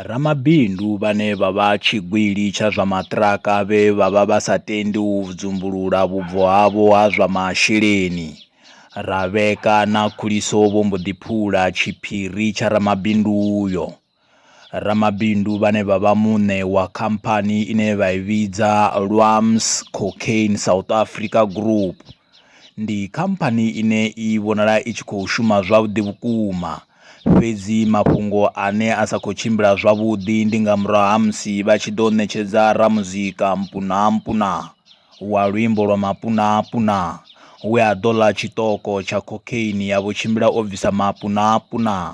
Ramabindu vhane vha vha tshigwili tsha zwa maṱiraka vhe vha vha vha sa tendi u dzumbulula vhubvo havho ha zwa masheleni. Rabeka na Khuliso vho mbo ḓi phula tshiphiri tsha ramabindu uyo. Ramabindu vhane vha vha muṋe wa khamphani ine vha i vhidza Lwams Cocaine South Africa Group, Ndi khamphani ine i vhonala i tshi khou shuma zwavhuḓi vhukuma, fhedzi mafhungo ane a sa khou tshimbila zwavhuḓi ndi nga murahu ha musi vha tshi ḓo ṋetshedza ramuzika Mpunaa Mpunaa wa luimbo lwa Mapunaa Punaa we a ḓo ḽa tshiṱoko tsha cocaine ya vho tshimbila o bvisa Mapunaa Punaa.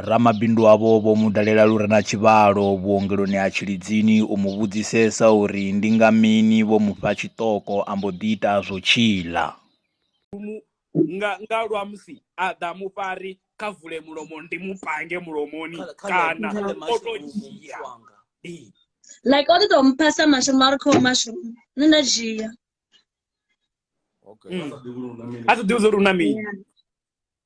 Ramabindu avho vho mu dalela lu re na tshivhalo vhuongeloni ha Tshilidzini u mu vhudzisesa uri ndi nga mini vho mu fha tshiṱoko a mbo ḓi ita zwo tshiḽa. Nga nga lwa musi a ḓa mufari kha vule mulomo ndi mu pange mulomoni kana o to dzhia like o ḓi to mpha sa mashroom a ri khou mashroom nṋe nda dzhia a sa ḓivhi uri una mini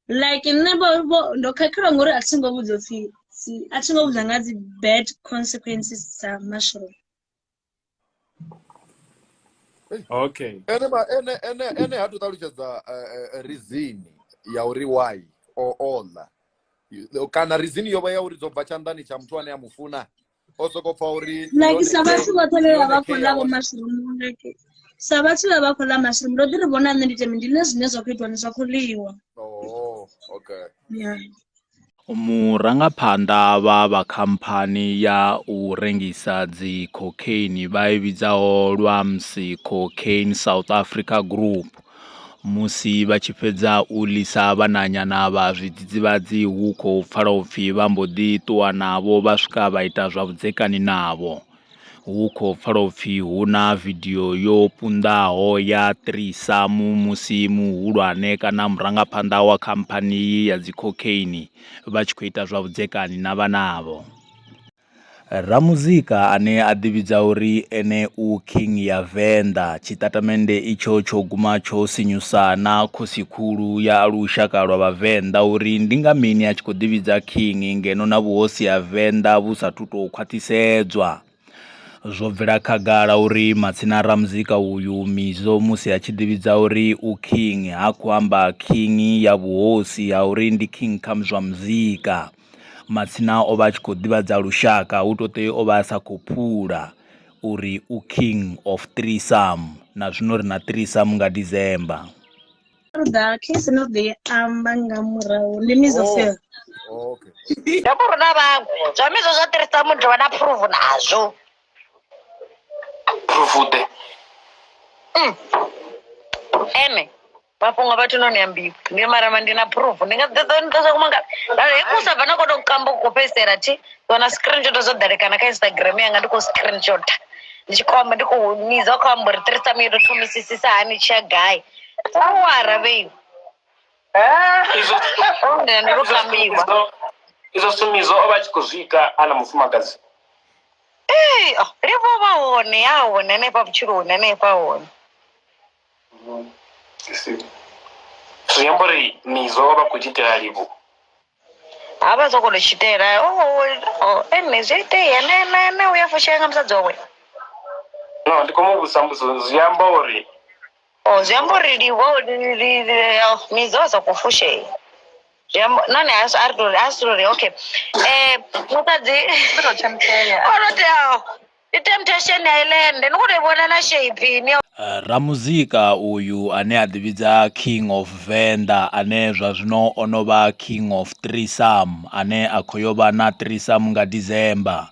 like nṋe vho vho ndo khakhelwa ngori a thi ngo vhudzwa upfhi si- a thi ngo vhudzwa nga dzi bad consequences dza mashroom okay ene ma- ene ene ene ha to ṱalutshedza eh, eh, reason ya uri why o ola kana reason yo vha ya uri dzo bva tshanḓani tsha muthu ane a mu funa o soko pfa uri like sa vhathu vhoṱhe vhe vha vha khou ḽa vho mashurumu like sa vhathu vhe vha khou ḽa mashurumu ndo ḓi ri vhona nṋe ndi teme ndi ḽe zwine zwa khou itiwa ndi zwa khou ḽiwa oh, okay yeah Murangaphanḓa vha vha khamphani ya u rengisa dzi cocaine vha i vhidzaho Lwamsi Cocaine South Africa Group Musi vha tshi fhedza u ḽisa vhananyana vha zwidzidzivhadzi hu khou pfala u pfi vha mbo ḓi ṱuwa navho vha swika vha ita zwa vhudzekani navho. Hu khou pfala u pfi hu na vidio yo punḓaho ya ṱirisa mu musi muhulwane kana murangaphanḓa wa khamphani iyi ya dzi cocaine vha tshi khou ita zwa vhudzekani na vhanavho. Ramuzika ane a ḓivhidza uri ene u King ya Venḓa, tshitatamennde itsho tsho guma tsho sinyusa na Khosi-khulu ya lushaka lwa Vhavenḓa uri ndi nga mini a tshi khou ḓivhidza King ngeno na vhuhosi ha Venḓa vhu sa athu tou khwaṱhisedzwa. Zwo bvela khagala uri matsina a Ramuzika uyu Mizo musi a tshi ḓivhidza uri u King ha khou amba King ya vhuhosi ha uri ndi King kha zwa muzika. matsina o vha a tshi khou ḓivhadza lushaka hu to ṱoi o vha a sa khou phula uri u king of three some na zwino ri na three some nga December. Ṱoḓa case no ḓi amba nga murahu ndi misofel oh, okay. ndo ku runa vhaṅwe zwa mizwo zwa ṱirisa mu dovha na phuruvu nazwo phurufuṱe mm. ene mafhungo a vhathu no ni ambiwa ndi marama ndi na phurufu ndi nga ḓeḓo ni ṱosa kumanga lalo he kusa bva na khou tou kamba ku khou fhedzisela thi wana screenshot zwo ḓalekana kha instagram yanga ndi khou screenshot ndi tshi khou amba ndi khou nidza khou amba uri three sami yo tou thomisisisa hani tshi ya gai awara vheiwe Eh, izwo Nṋe ndi izwo lukambiwa sumidzo- izwo sumidzo o vha a tshi khou zwi ita a na mufumakadzi Ee, oh, ndi vho vha hone a hone hanefha vhutshiloni hanefha hone zwi amba uri mizo vha vha khou tshi itela livhu ha vha soko to tshitela o ene zwi itea ne ne ne uya fushea nga musadzi wawe no ndi khou mu vhudzisa mbudzo zwi amba uri Oh, zwi amba uri livho li- li- li- ya midzi wa sokou fushea zwi amba nahone a si- a ri tou- a si tou ri okay um musadzi o no teaho ndi temptation ya ilende ni khou tou i vhona na shape ini Eh, ramuzika uyu ane a ḓivhidza king of venḓa ane zwa zwino o no vha king of trisam ane a khou yo vha na trisam nga december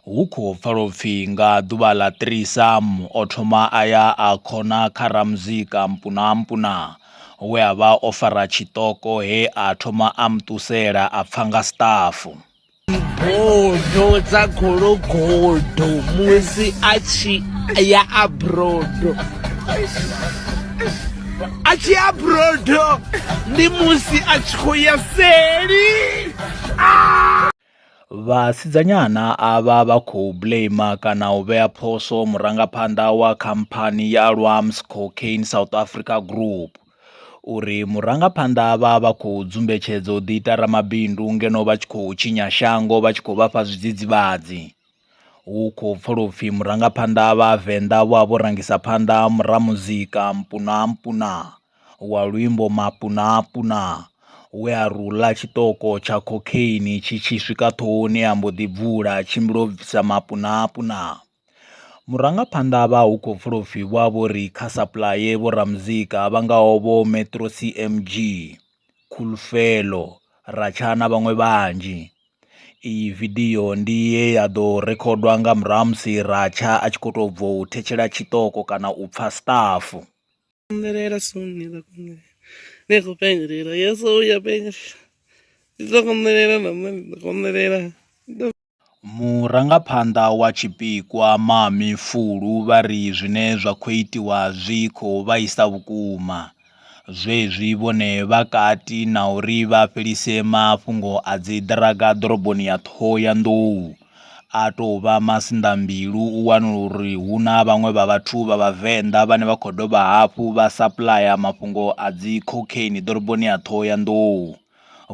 Hu khou pfala u pfi nga ḓuvha ḽa 3 Sam o thoma a ya a khona kha Ramuzika Mpunaampuna we a vha o fara tshiṱoko he a thoma a mu ṱusela a pfa nga siṱafu. Bodo dza gologodo musi a tshi ya a brodo a tshi ya brodo ndi musi a tshi khou ya seli. Vhasidzanyana avha vha khou blame kana u vhea phoso murangaphanḓa wa khamphani ya Ahlwams Cocaine South Africa Group uri murangaphanḓa vha vha khou dzumbetshedza u ḓi ita ramabindu ngeno vha tshi khou tshinya shango vha tshi khou vhafha zwidzidzivhadzi. Hu khou pfala upfhi murangaphanḓa vha Venḓa vho a vho rangisa phanḓa mura muzika mpuna mpuna. wa luimbo Mapunapuna we a ri u ḽa tshiṱoko tsha khokheini tshi tshi swika ṱhohoni a mbo ḓi bvula a tshimbila o bvisa Mapunapuna. Murangaphanḓa vha hu khou pfula upfhi vho vha vho ri kha sapuḽaye vho ramuzika vha ngaho vho Metro CMG, Cool Fello, Ratchaa na vhaṅwe vhanzhi. Iyi vidio ndi ye ya ḓo rikhodwa nga murahu ha musi Ratchaa a tshi khou tou bva u thetshela tshiṱoko kana u pfha stuff. Kunderera sunnida kunderera. Dejo pengrera, ya soy ya pengrera. Ito kunderera namna ito kunderera. Murangaphanḓa wa tshipikwa Mami Fulu vha ri zwine zwa khou itiwa zwi khou vhaisa vhukuma zwezwi vhone vha kati na uri vha fhelise mafhungo a dzi ḓiraga ḓoroboni ya Ṱhohoyanḓou. a tou vha masinḓambilu u wanala uri hu na vhaṅwe vha vhathu vha vhavenḓa vhane vha khou dovha hafhu vha sapuḽaya mafhungo a dzi khokheini ḓoroboni ya Ṱhohoyanḓou,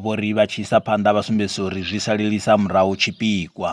vho ri vha tshi isa phanḓa vha sumbedzisa uri zwi salelisa murahu tshipikwa.